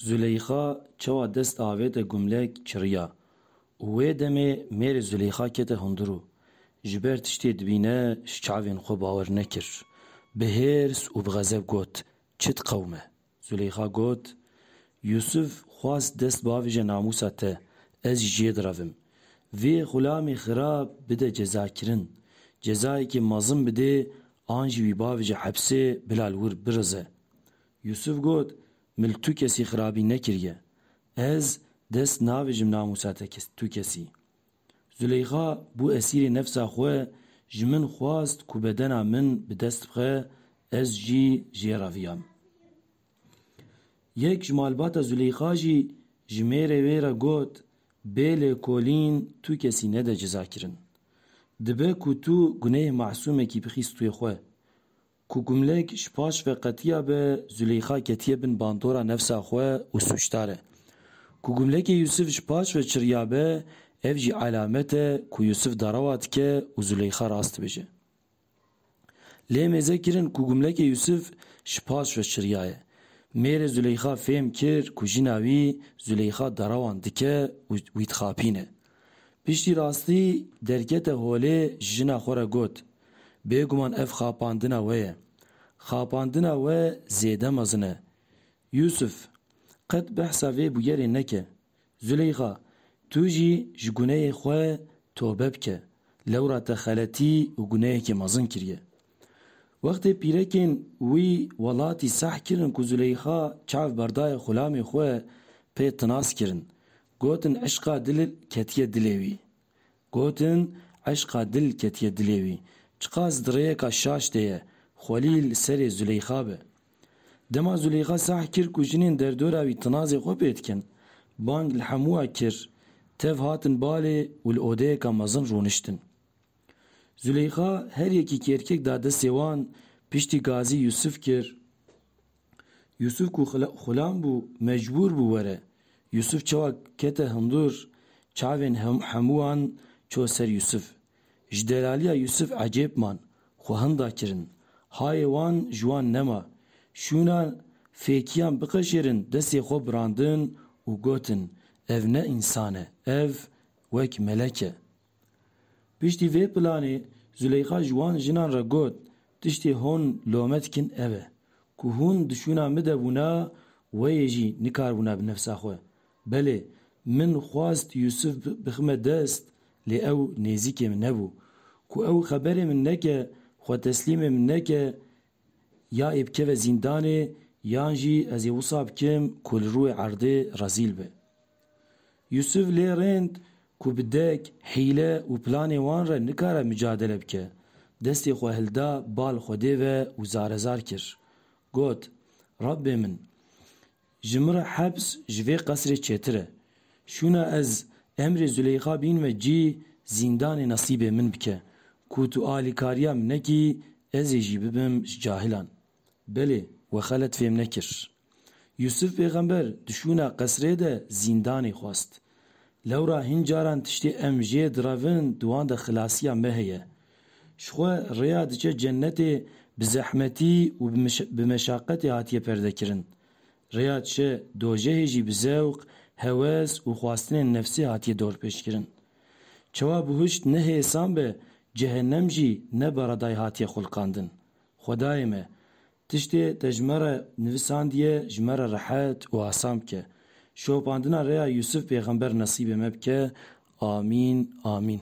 Zûleyxa çawa dest avête gumlek çiriya û wê demê mêrê Zûleyxa kete hundir û ji ber tiştê dibîne ji çavên xwe bawer nekir. Bi hêrs û bi xezeb got, Çit qewim e. Zûleyxa got, Yûsûf xwast dest bavêje namûsa te, ez jî jê direvim. Vê xulamê xirab bide cezakirin. Cezayekê mezin bidê an jî wî bavêje hepsê bila li wir birize. Yûsûf got, Min li tu kesî xirabî nekiriye. Ez dest navêjim namûsa te tu kesî. Zûleyxa bû esîrê nefsa xwe, ji min xwast ku bedena min bi dest bixe, ez jî ji ye reviyam. Yek ji malbata Zûleyxa jî ji mêrê wê re got, Bê lêkolîn tu kesî nede cezakirin. Dibe ku tu guneyê masûmekî bixîst wê xwe. Ku Gumlek ji paş ve qetiya be, Zuleyxa ketiye bin bandora nefsa xwe û sûcdar e. Ku Gumlekê Yûsif ji paş ve çiriya be, ev jî elamet e ku Yûsif derewa dike û Zuleyxa rast dibêje. Lê mêze kirin ku Gumlekê Yûsif ji paş ve çiriyaye. Mêrê Zuleyxa fêm kir ku jina wî, Zuleyxa, derewan dike û wî dixapîne. Piştî rastî derkete holê jina xwe re got, Bêguman ev xapandina we ye. Xapandina we zêde mezin e. Yûsif, qet behsa vê bûyerê neke. Zûleyxa, tu jî ji guneyê xwe tobe bike. Lewra te xeletî û guneyekê mezin kiriye. Wextê pîrekên wî welatî seh kirin ku Zûleyxa çav berdaya xulamê xwe pê tinas kirin Gotin eşqa dil ketiye dilê wî. Gotin eşqa dil ketiye dilê wî. Çiqas di rêyeka şaş de ye, xwelî li serê Zuleyxa be. Dema Zuleyxa sah kir ku jinên derdora wî tinazê xwe pê dikin, bang li hemû a kir, tev hatin balê û li odeyeka mezin rûniştin. Zuleyxa her yekî kêrkek da destê wan, piştî gazî Yûsif kir. Yûsûf ku xulam bû mecbûr bû were. Yûsûf çawa kete hundir, çavên hemû wan çû ser Yûsûf. Ji delalîya Yûsûf ecêb man, xwe hinda kirin. Hayê wan ji wan nema. Şûna fêkiyan biqeşêrin destê xwe birandin û gotin, Ev ne însan e, ev wek melek e. Piştî vê planê Zûleyxa ji wan jinan re got, Tiştê hûn lome dikin ev e ku hûn di şûna min de bûna weyê jî nikaribûna bi nefsa xwe. Belê, min xwest Yûsif bixime dest lê ew nêzîkê min nebû. Ku ew xeberê min neke, xwe teslîmê min neke Ya ê bikeve zîndanê yan jî ez ê wisa bikim ku li rûyê erdê rezîl be. Yûsûf lê rênd ku bi dek, hîle û planê wan re nikare micadele bike, destê xwe hilda bal Xwedê ve û zarezar kir. Got, Rebbê min! Ji min re hepz ji vê qesrê çêtir e. Şûna ez emrê Zuleyxa bîn ve cî zîndanê nesîbê min bike. Ku tu alîkariya min nekî ez ê jî bibim ji cahilan. Belê, we xelet fêm nekir. Yûsif pêxember di şûna qesrê de zîndanê xwest. Lewra hin caran tiştê em jê direvin di wan de xilasiya me heye. Ji xwe rêya diçe cennetê bi zehmetî û bi meşaqetê hatiye perdekirin. Rêya diçe dojehê jî bi zewq, hewes û xwastinên nefsê hatiye dorpêçkirin. Çawa bihuşt ne hêsan be, cehennem jî ne beredayê hatiye xulqandin. Xwedayê me, tiştê te ji me re nivisandiye ji me re rehet û asan bike. Şopandina rêya Yûsif pêxember nesîbê me bike. Amîn, amîn.